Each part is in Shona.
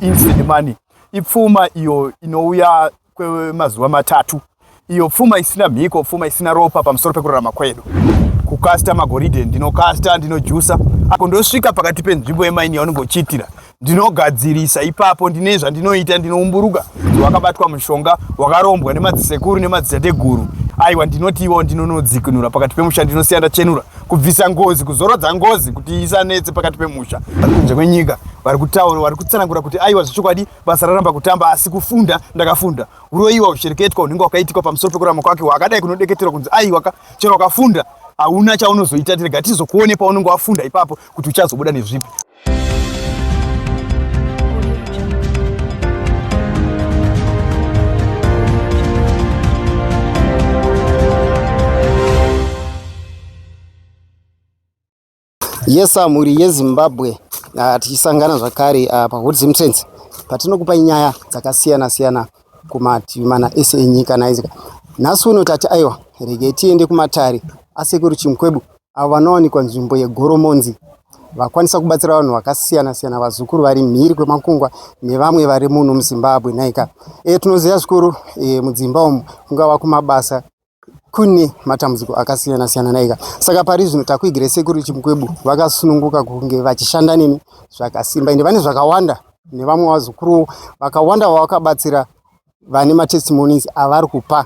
Instant money ipfuma iyo inouya kwemazuva matatu, iyo pfuma isina mhiko, pfuma isina ropa pamusoro pekurarama kwedu. Kukasta magoridhe, ndinokasta, ndinojusa, ako ndosvika pakati penzvimbo yemaini yaunenge uchiitira ndinogadzirisa ipapo ndine zvandinoita ndinoumburuka wakabatwa mushonga wakarombwa nemadzisekuru nemadzitateguru aiwa ndinotiwo ndinonodzikinura pakati pemusha ndinosiyana chenura kubvisa ngozi kuzorodza ngozi kuti isanetse pakati pemusha vari kunze kwenyika vari kutaura vari kutsanangura kuti aiwa zvechokwadi basa raramba kutamba asi kufunda ndakafunda uroyiwa ushereketwa unenge wakaitikwa pamusoro pekurama kwake wakadai kunodeketerwa kunzi aiwa ka chero wakafunda hauna chaunozoita tirega tizokuone paunenge wafunda ipapo kuti uchazobuda nezvipi yesa mhuri yezimbabwe ah, tichisangana zvakare ah, pahood zimtrance patinokupa nyaya dzakasiyana siyana kumativi mana ese enyika naizika nhasi uno tati aiwa regei tiende kumatare asekuru chimukwebu avo vanowanikwa nzvimbo yeGoromonzi vakwanisa kubatsira vanhu vakasiyana siyana vazukuru vari mhiri kwemakungwa nevamwe vari muno muzimbabwe nhaika e, eh, tinoziva zvikuru e, mudzimba umu kungava kumabasa kune matambudziko akasiyana siyana nhaika saka pari zvino takuigire sekuru chimukwebu vakasununguka kunge vachishanda neni zvakasimba ende vane zvakawanda nevamwe vazukuru vakawanda vavakabatsira vane matestimonies avari kupa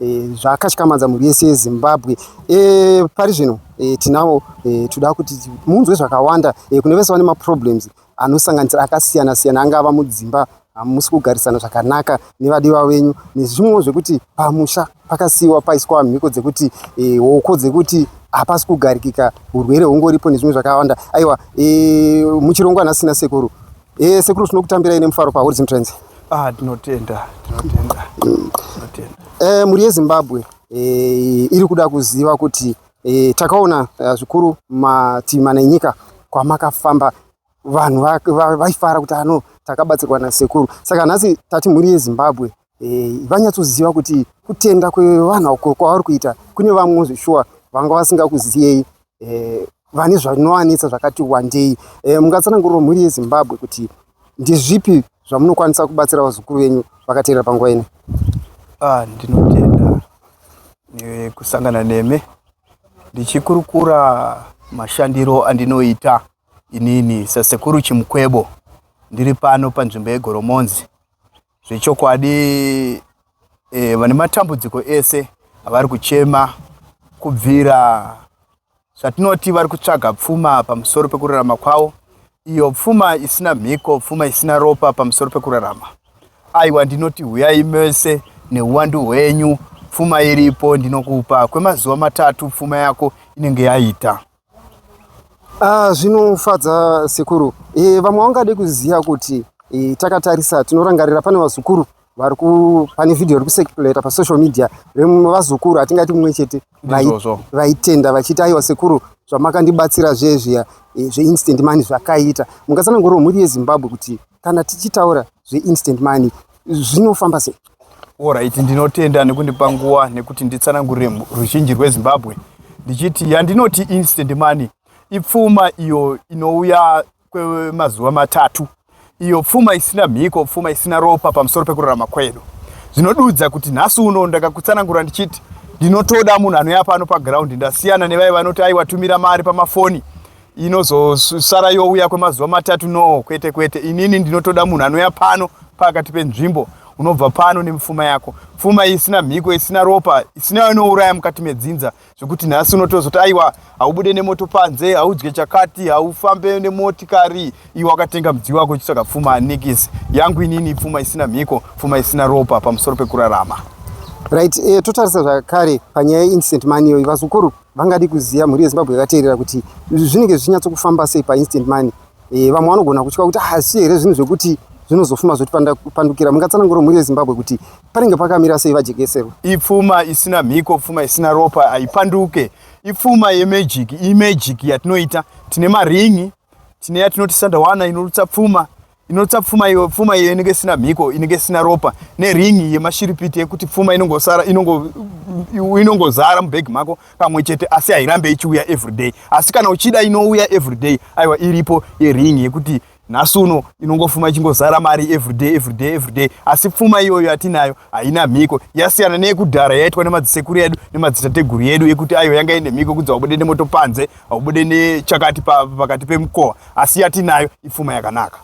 e, zvakatyamadza mhuri yese yezimbabwe e, pari zvino e, tinawo e, toda kuti munzwe zvakawanda e, kune vese vane maproblems anosanganisira akasiyana siyana angava mudzimba hamusi kugarisana zvakanaka nevadiwa venyu nezvimwewo zvekuti pamusha pakasiyiwa paiswa mhiko dzekuti e, hoko dzekuti hapasi kugarikika urwere hungoripo nezvimwe zvakawanda aiwa e, muchirongwa nasina sekuru Eh, sekuru tinokutambira ine mufaro pa Horizon Trends. Ah, tinotenda, tinotenda. Tinotenda. Eh, muri yeZimbabwe eh, iri kuda kuziva kuti eh, takaona eh, zvikuru mativi mana enyika kwamakafamba vanhu vaifara kuti ano takabatsirwa nasekuru saka nhasi tati mhuri yezimbabwe eh, vanyatsoziva kuti kutenda kwevanhu uko kwavari kuita kune vamwe zveshuwa vanga vasingakuziyei eh, vane zvinovanetsa zvakati wandei eh, mungatsananguriro mhuri yezimbabwe kuti ndizvipi zvamunokwanisa kubatsira vazukuru venyu vakateerera panguva ino ah, ndinotenda nekusangana neme ndichikurukura mashandiro andinoita inini sasekuru chimukwebo ndiri pano panzvimbo yegoromonzi Zvechokwadi eh, vane matambudziko ese avari kuchema kubvira zvatinoti vari kutsvaga pfuma pamusoro pekurarama kwavo iyo pfuma isina mhiko pfuma isina ropa pamusoro pekurarama aiwa ndinoti huyai mese neuwandu hwenyu pfuma iripo ndinokupa kwemazuva matatu pfuma yako inenge yaita Ah, zvinofadza sekuru. E, vamwe vangade kuziva kuti e, takatarisa tinorangarira pane vazukuru vari ku pane video iri kusekipuleta pasocial media vazukuru hatingati mumwe chete vaitenda vachiti aiwa sekuru zvamakandibatsira zviye zviya e, zveinstant mani zvakaita mungatsananguriro mhuri yezimbabwe kuti kana tichitaura zveinstant money zvinofamba sei orit ndinotenda nekundipa nguva nekuti nditsanangurire ruzhinji rwezimbabwe ndichiti yandinoti instant money ipfuma iyo inouya kwemazuva matatu iyo pfuma isina mhiko pfuma isina ropa pamusoro pekurarama kwedu zvinodudza kuti nhasi uno ndakakutsanangura ndichiti ndinotoda munhu anoya pano pagraundi ndasiyana nevaye vanoti aiwatumira mari pamafoni inozosara youya kwemazuva matatu no kwete kwete inini ndinotoda munhu anouya pano pakati penzvimbo unobva pano nemufuma yako pfuma isina mhiko isina ropa isina inouraya mukati medzinza zvekuti nhasi unotozoti aiwa haubude nemoto panze haudye chakati haufambe nemotikari iwe wakatenga mudziyo wako uchitsvaga pfuma anikisi yangu inini pfuma isina mhiko pfuma isina ropa pamusoro pekurarama right e, totarisa zvakare panyaya yeincident mani iyoyi vazukuru Vangadi kuziva mhuri yeZimbabwe yakateerera kuti zvinenge zvichinyatsokufamba sei painstant money. E, vamwe vanogona kutya kuti hasi ah, here zvinhu zvekuti zvinozofuma zvotipandukira mungatsanangura mhuri yezimbabwe kuti panenge pakamira sei vajekeserwa ipfuma isina mhiko pfuma isina ropa haipanduke ipfuma yemagic imagic yatinoita tine maringi tine yatinoti sandawana inorutsa pfuma inotsa pfuma iyo pfuma iyo inenge isina mhiko inenge isina ropa neringi yemashiripiti yekuti pfuma inongosara inongozara mubhegi mako pamwe chete asi hairambe ichiuya everyday asi kana uchida inouya everyday aiwa iripo yeringi yekuti nhasi uno inongofuma ichingozara mari everyday everyday everyday asi pfuma iyoyo yatinayo haina mhiko yasiyana neyekudhara yaitwa nemadzisekuru edu nemadzitateguru yedu yekuti aiwa yanga ine mhiko kunzi wabude nemoto panze haubude nechakati pakati pemukova asi yatinayo ipfuma yakanaka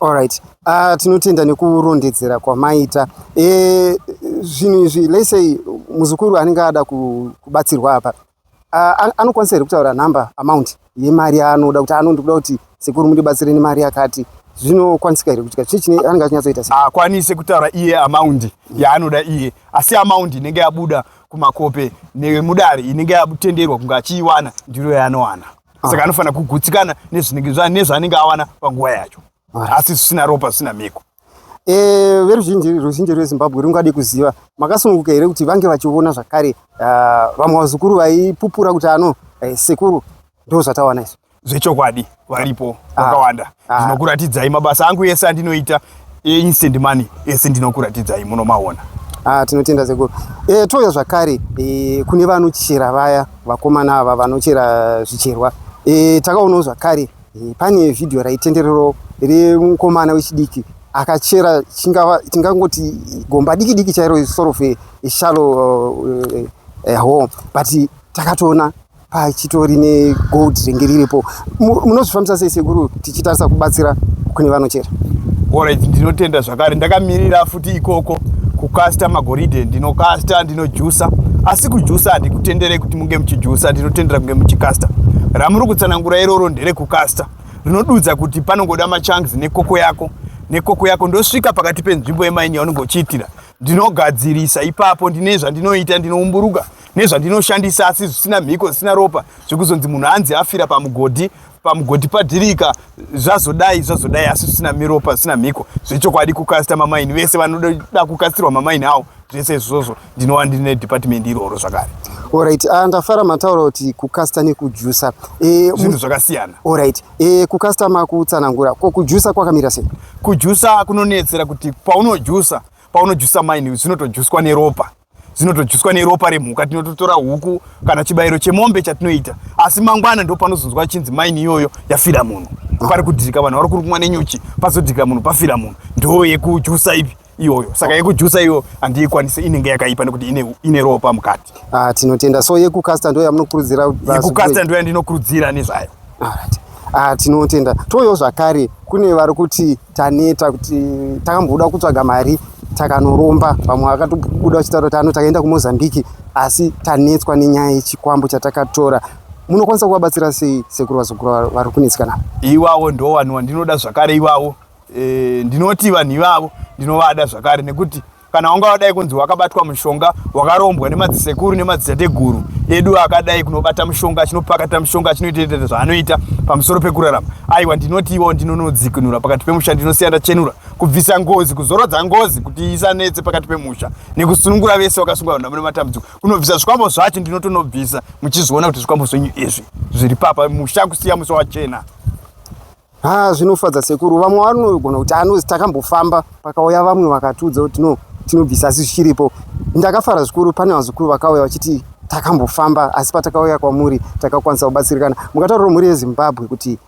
allright uh, ah, tinotenda nekurondedzera kwamaita e, zvinhu e, izvi lesey muzukuru anenge ada kubatsirwa apa uh, anokwanisa here kutaura number amount yemari yaanoda kuti ano ndikuda kuti sekuru mundibatsire nemari yakati zvinokwanisika here kutika chii chine anenge achinyatsoita akwanise kutaura iye amaundi yaanoda iye asi amaundi inenge yabuda kumakope nemudare inenge yatenderwa kunge achiiwana ndiro yaanowana ah. saka anofanira kugutsikana nezvaanenge awana panguva yacho ah. asi zvisina ropa zvisina mhiko eh, veruzhinji ruzhinji rwezimbabwe rungade kuziva makasununguka here kuti vange vachiona zvakare ah, vamwe vazukuru vaipupura kuti ano eh, sekuru ndo zvatawana izvo zvechokwadi varipo ah. vakawanda ah. ndinokuratidzai mabasa angu ese andinoita instant money ese ndinokuratidzai munomaona ah, tinotenda sekuru e, eh, touya zvakare e, kune vanochera vaya vakomana ava vanochera zvicherwa e, takaonawo zvakare e, pane vhidhiyo raitenderero remukomana wechidiki akachera chingava tingangoti gomba diki diki chairo sort of a shallow uh, uh, home but takatoona pachitori negold ringe riripo munozvifambisa sei sekuru tichitarisa kubatsira kune vanochera orit ndinotenda zvakare ndakamirira futi ikoko kukasta magoridhe ndinokasta ndinojusa asi kujusa handikutenderei kuti munge muchijusa ndinotendera kunge muchikasta ramuri kutsanangura iroro nderekukasta rinodudza kuti panongoda machangs nekoko yako nekoko yako ndosvika pakati penzvimbo yemaini yaunenge uchiitira ndinogadzirisa ipapo ndine zvandinoita ndinoumburuka nezvandinoshandisa asi zvisina mhiko zvisina ropa zvekuzonzi munhu anzi afira pamugodhi pamugodhi padhirika zvazodai zvazodai asi zvisina miropa zvisina mhiko zvechokwadi kukasita mamaini vese vanoda kukasitirwa mamaini awo zvese izvozvo ndinova ndine dhipatimendi iroro zvakare orit uh, ah, ndafara mataura kuti kukasita nekujusa e, zvinhu zvakasiyana orit e, eh, kukasita makutsanangura ko kujusa kwakamira sei kujusa kunonetsera kuti paunojusa paunojusa maini zvinotojuswa neropa dzinotodyiswa neropa remhuka tinototora huku kana chibayiro chemombe chatinoita asi mangwana ndo panozonzwa chinzi maini iyoyo yafira munhu pari kudhirika vanhu vari kurumwa nenyuchi pazodhirika munhu pafira munhu ndo yekujusa ipi iyoyo saka yekujusa iyo handiikwanise inenge yakaipa nekuti ine, ine ropa mukati ah, tinotenda so yekukasta ndo yamunokurudzira yekukasta ndo yandinokurudzira nezvayo Ah, tinotenda toyo zvakare kune vari kuti taneta kuti takamboda kutsvaga mari takanoromba vamwe vakatobuda vachitaura kuti ano takaenda kumozambique asi tanetswa nenyaya yechikwambo chatakatora munokwanisa kuvabatsira sei sekuru vazukuru vari kunetsikana iwawo ndo vanhu vandinoda zvakare iwawo e, ndinoti vanhu ivavo ndinovada zvakare nekuti kana wanga wadai kunzi wakabatwa mushonga wakarombwa nemadzisekuru nemadzitateguru edu akadai kunobata mushonga achinopakata mushonga achinoitaita zvaanoita pamusoro pekurarama aiwa ndinoti iwo ndinonodzikinura pakati pemusha ndinosiya ndachenura kubvisa ngozi kuzorodza ngozi kuti isanetse pakati pemusha nekusunungura vese vakasunga vanhu vamune matambudziko kunobvisa zvikwambo zvacho ndinotonobvisa muchizviona kuti zvikwambo zvenyu izvi zviri papa musha kusiya musa wachena Ah, zvinofadza sekuru vamwe vanogona kuti anozi takambofamba pakauya vamwe vakatiudza kuti no tinobvisa asi zvichiripo ndakafara zvikuru pane vazukuru vakauya vachiti takambofamba asi patakauya kwamuri takakwanisa kubatsirikana mukataurira mhuri yezimbabwe kuti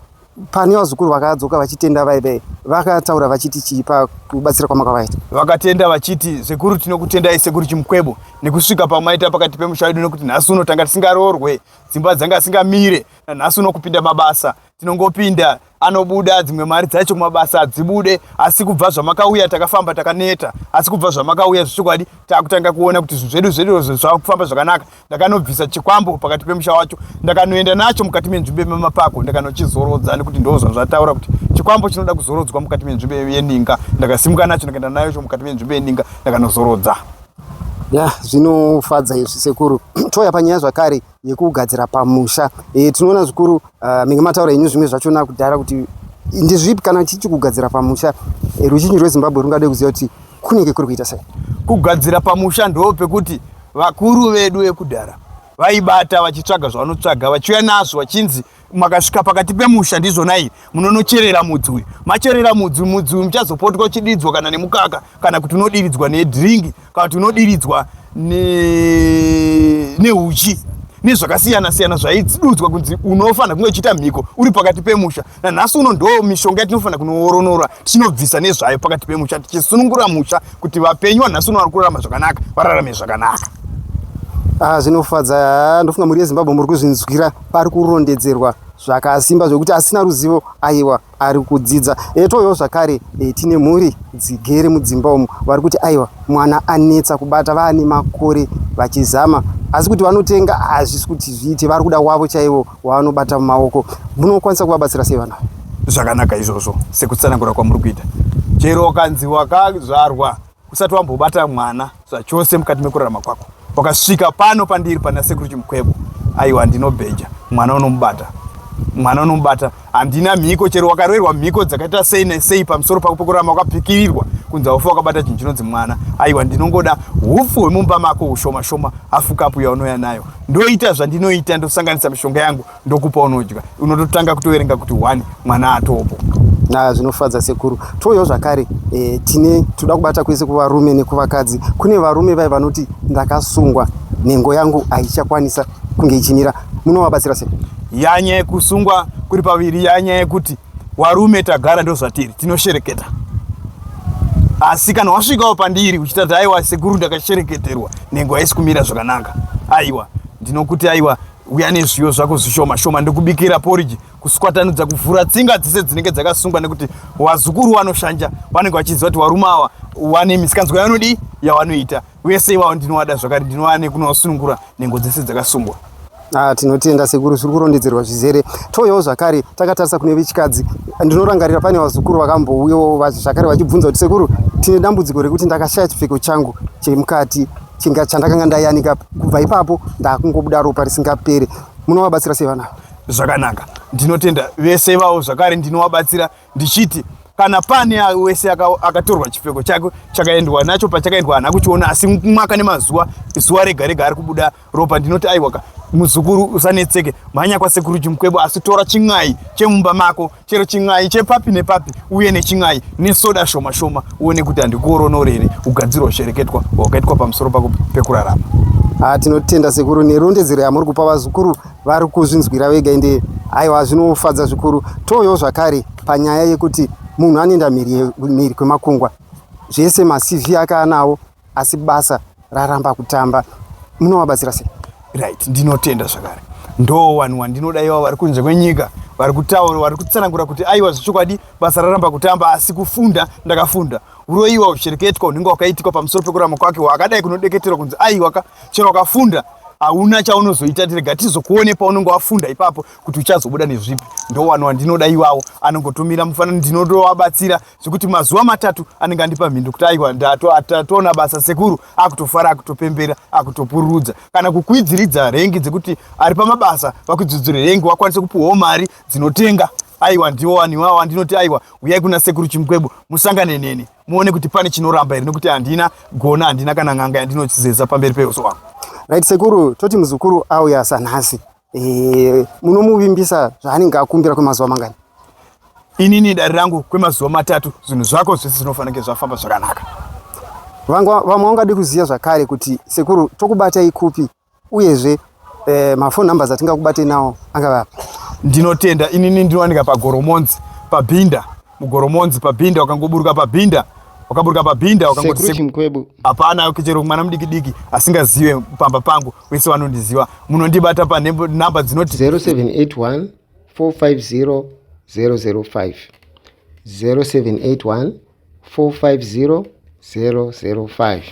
pane vazukuru vakadzoka vachitenda vaive vakataura vachiti chii pakubatsira kwamakavaita vakatenda vachiti sekuru tinokutendai sekuru chimukwebo nekusvika pamaita pakati pemusha wedu nekuti nhasi uno tanga tisingaroorwe dzimba dzanga dzisingamire nanhasi uno kupinda mabasa tinongopinda anobuda dzimwe mari dzacho kumabasa hadzibude asi kubva zvamakauya takafamba takaneta asi kubva zvamakauya zvechokwadi takutanga kuona kuti zvinhu zvedu zvedozvo zvava kufamba zvakanaka ndakanobvisa chikwambo pakati pemusha wacho ndakanoenda nacho mukati menzvimbo yemamapako ndakanochizorodza nekuti ndozva zvataura kuti chikwambo chinoda kuzorodzwa mukati menzvimbo yeninga ndakasimuka nacho ndakaenda nayo cho mukati menzvimbo yeninga ndakanozorodza ya zvinofadza izvi sekuru touya panyaya zvakare yekugadzira pamusha e, tinoona zvikuru uh, menge mataura henyu zvimwe zvachona kudhara kuti ndezvipi kana tichi kugadzira pamusha e, ruzhinji rwezimbabwe rungade kuziva kuti kunenge kuri kuita sei kugadzira pamusha ndoo pekuti vakuru vedu vekudhara vaibata vachitsvaga zvavanotsvaga vachiuya nazvo vachinzi makasvika pakati pemusha ndizvonai munonocherera mudzi uyu macherera mudzi mudzi uyu muchazopotwa uchidiridzwa kana nemukaka kana kuti unodiridzwa nedhiringi kana kuti unodiridzwa neuchi ne nezvakasiyana siyana zvaidudzwa kunzi unofanira kunge uchiita mhiko uri pakati pemusha nanhasi uno ndo mishonga yatinofanira kunooronora tinobvisa nezvayo pakati pemusha tichisunungura musha kuti vapenyu vanhasi uno vari kurarama zvakanaka vararame zvakanaka ah, zvinofadza ah, ndofunga mhuri yezimbabwe muri kuzvinzwira pari kurondedzerwa zvakasimba zvekuti asina ruzivo aiwa ari kudzidza etoyo zvakare e, tine mhuri dzigere mudzimba umu vari kuti aiwa mwana anetsa kubata vaane makore vachizama asi kuti vanotenga hazvisi kuti zviite vari kuda wavo chaivo waanobata mumaoko munokwanisa kuvabatsira sei vana zvakanaka izvozvo sekutsanangura kwamuri kuita chero ukanzi wakazvarwa usati wambobata mwana zvachose mukati mekurarama kwako wakasvika pano pandiri pana sekuru chimukwebo aiwa ndinobheja mwana unomubata mwana unomubata Handina mhiko chero wakaroerwa mhiko dzakaita sei nesei pamusoro pako pokurama wakapikirirwa kunzi haufa wakabata chinhu chinonzi mwana. Aiwa ndinongoda hupfu hwemumba mako hushoma shoma hafu kapu yaunouya nayo. Ndoita zvandinoita ndosanganisa mishonga yangu ndokupa unodya. Unototanga kutoverenga kuti one mwana atopo. Na zvinofadza sekuru. Touyawo zvakare e, tine toda kubata kwese kuvarume nekuvakadzi. Kune varume vai vanoti ndakasungwa nhengo yangu haichakwanisa kunge ichinira munovabatsira sei yanya yekusungwa kuri paviri yanya yekuti warume tagara ndozvatiri tinoshereketa asi kana wasvikawo pandiri uchitati aiwa sekuru ndakashereketerwa nhengo haisi kumira zvakanaka aiwa ndinokuti aiwa uya nezviyo zvako zvishoma shoma ndikubikira poriji kuswatanudza kuvhura tsinga dzese dzinenge dzakasungwa nekuti wazukuru wanoshanja vanenge vachiziva kuti varume ava wane misikanzwa yavanodii yavanoita uye sei vavo ndinovada zvakare ndinowane kunovasunungura nhengo dzese dzakasungwa Ah, tinotenda sekuru zviri kurondedzerwa zvizere touyawo zvakare takatarisa kune vechikadzi ndinorangarira pane vazukuru vakambouyawo zvakare vachibvunza kuti sekuru tine dambudziko rekuti ndakashaya chipfeko changu chemukati chandakanga ndayanika kubva ipapo ndakungobuda ropa risingapere munovabatsira sei vanavo Zvakanaka, ndinotenda vese ivavo zvakare ndinovabatsira ndichiti kana pane wese akatorwa chipfeko chake chakaendwa nacho pachakaendwa hana kuchiona asi mwaka nemazuva zuva rega rega ari kubuda ropa ndinoti aiwaka muzukuru usanetseke mhanya kwasekuru chimukwebo asi tora chin'ai chemumba mako chero chin'ai chepapi nepapi uye nechin'ai nesoda shoma shoma uone kuti handikuoronori here ugadziro hushereketwa hwakaitwa pamusoro pako pekurarama ah, tinotenda sekuru nerondedzero yamuri kupa vazukuru vari kuzvinzwira vega ende aiwa zvinofadza zvikuru toyo zvakare panyaya yekuti munhu anoenda mhiri kwemakungwa zvese macv ake anawo asi basa raramba kutamba munovabatsira sei right ndinotenda zvakare ndo vanhu wandinoda iva vari kunze kwenyika vari kutaura vari kutsanangura kuti aiwa zvechokwadi basa raramba kutamba asi kufunda ndakafunda uroyiwa ushereketwa unenge wakaitikwa pamusoro pekurama kwake wakadai kunodeketerwa kunzi aiwa ka chero wakafunda hauna chaunozoita tirega tizokuone paunenge wafunda ipapo kuti uchazobuda nezvipi ndo vanhu wandinoda iwawo anongotumira mufanani ndinotovabatsira zvekuti mazuva matatu anenge andipa mhindu kuti aiwa ndatoona basa sekuru akutofara akutopembera akutopururudza kana kukwidziridza rengi dzekuti ari pamabasa vakwidzidzire rengi wakwanise kupiwawo mari dzinotenga aiwa ndiwo waniwawo andinoti aiwa uyai kuna sekuru chimukwebo musangane neni muone kuti pane chinoramba here nekuti handina gona handina kana n'anga yandinochizeza pamberi peuso wangu right sekuru toti muzukuru auya sanhasi Eh, munomuvimbisa zvaanenge akumbira kwemazuva mangani? Inini dare rangu kwemazuva matatu zvinhu zvako zvese zvinofanira kunge zvafamba zvakanaka. Vangwa vamwe vangade kuziva zvakare kuti sekuru tokubatai kupi uyezve eh, mafoni numbers atingakubatei nawo angave api? Ndinotenda inini ndinowanika pagoromonzi pabhinda mugoromonzi pabhinda wakangoburuka pabhinda wakaburuka pabhinda wakangoti Sekuru sekuru Chimkwebu. hapana chero mwana mudikidiki asingazive pamba pangu wese vanondiziva munondibata panumber dzinoti 0781 450 005 0781 450 005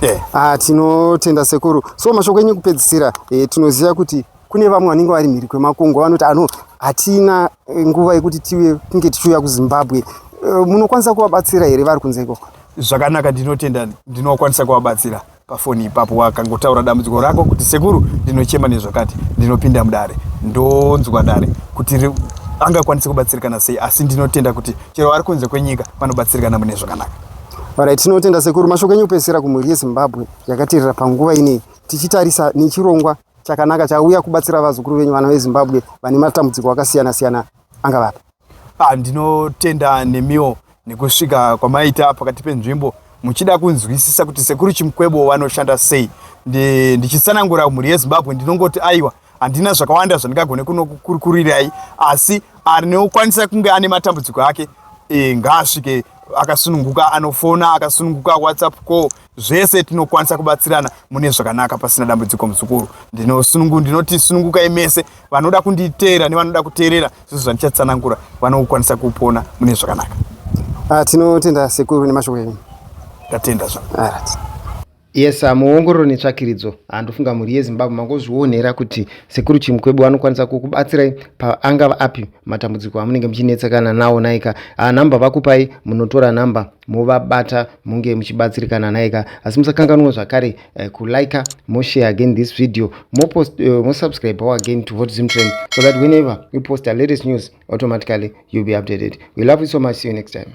eh, ah, tinotenda sekuru so mashoko enyu kupedzisira eh, tinoziva kuti kune vamwe vanenge vari mhiri kwemakungwa vanoti ano hatina eh, nguva yekuti tive kunge tichiuya kuzimbabwe eh, munokwanisa kuvabatsira here vari kunze ikoko zvakanaka ndinotenda ndinokwanisa kuvabatsira pafoni ipapo wakangotaura dambudziko rako kuti sekuru ndinochema nezvakati ndinopinda mudare ndonzwa dare kuti angakwanise kubatsirikana sei asi ndinotenda kuti chero ari kunze kwenyika vanobatsirikana mune zvakanaka orit tinotenda sekuru mashoko enyu kupedzisira kumhuri yezimbabwe yakaterera panguva inei tichitarisa nechirongwa chakanaka chauya kubatsira vazukuru venyu vana vezimbabwe vane matambudziko akasiyana siyana angavapa Ah, ndinotenda nemiwo nekusvika kwamaita pakati penzvimbo muchida kunzwisisa kuti sekuru Chimukwebo vanoshanda sei. Ndi, ndichitsanangura mhuri yeZimbabwe ndinongoti aiwa handina zvakawanda zvandingagone kunokurikurirai asi anokwanisa kunge ane matambudziko ake e, ngaasvike akasununguka anofona akasununguka whatsapp call zvese tinokwanisa kubatsirana mune zvakanaka pasina dambudziko muzukuru ndinosunungu ndinoti sunungukai mese vanoda kunditeera nevanoda kuteerera zvizo zvandichatsanangura vanokwanisa kupona mune zvakanaka ah, tinotenda sekuru nemashoko enyu ndatenda zva yes ah, muongororo netsvakiridzo handofunga ah, mhuri yezimbabwe mangozvionera kuti sekuru chimukwebu vanokwanisa kukubatsirai paangava api matambudziko amunenge muchinetsekana nawo naika nhamba vakupai munotora nhamba movabata munge muchibatsirikana naye ka asi musakanganwa zvakare uh, eh, kulika moshare again this video mopost uh, eh, mosubscribe our again to hot zim trend so that whenever we post a latest news automatically you'll be updated we love you so much see you next time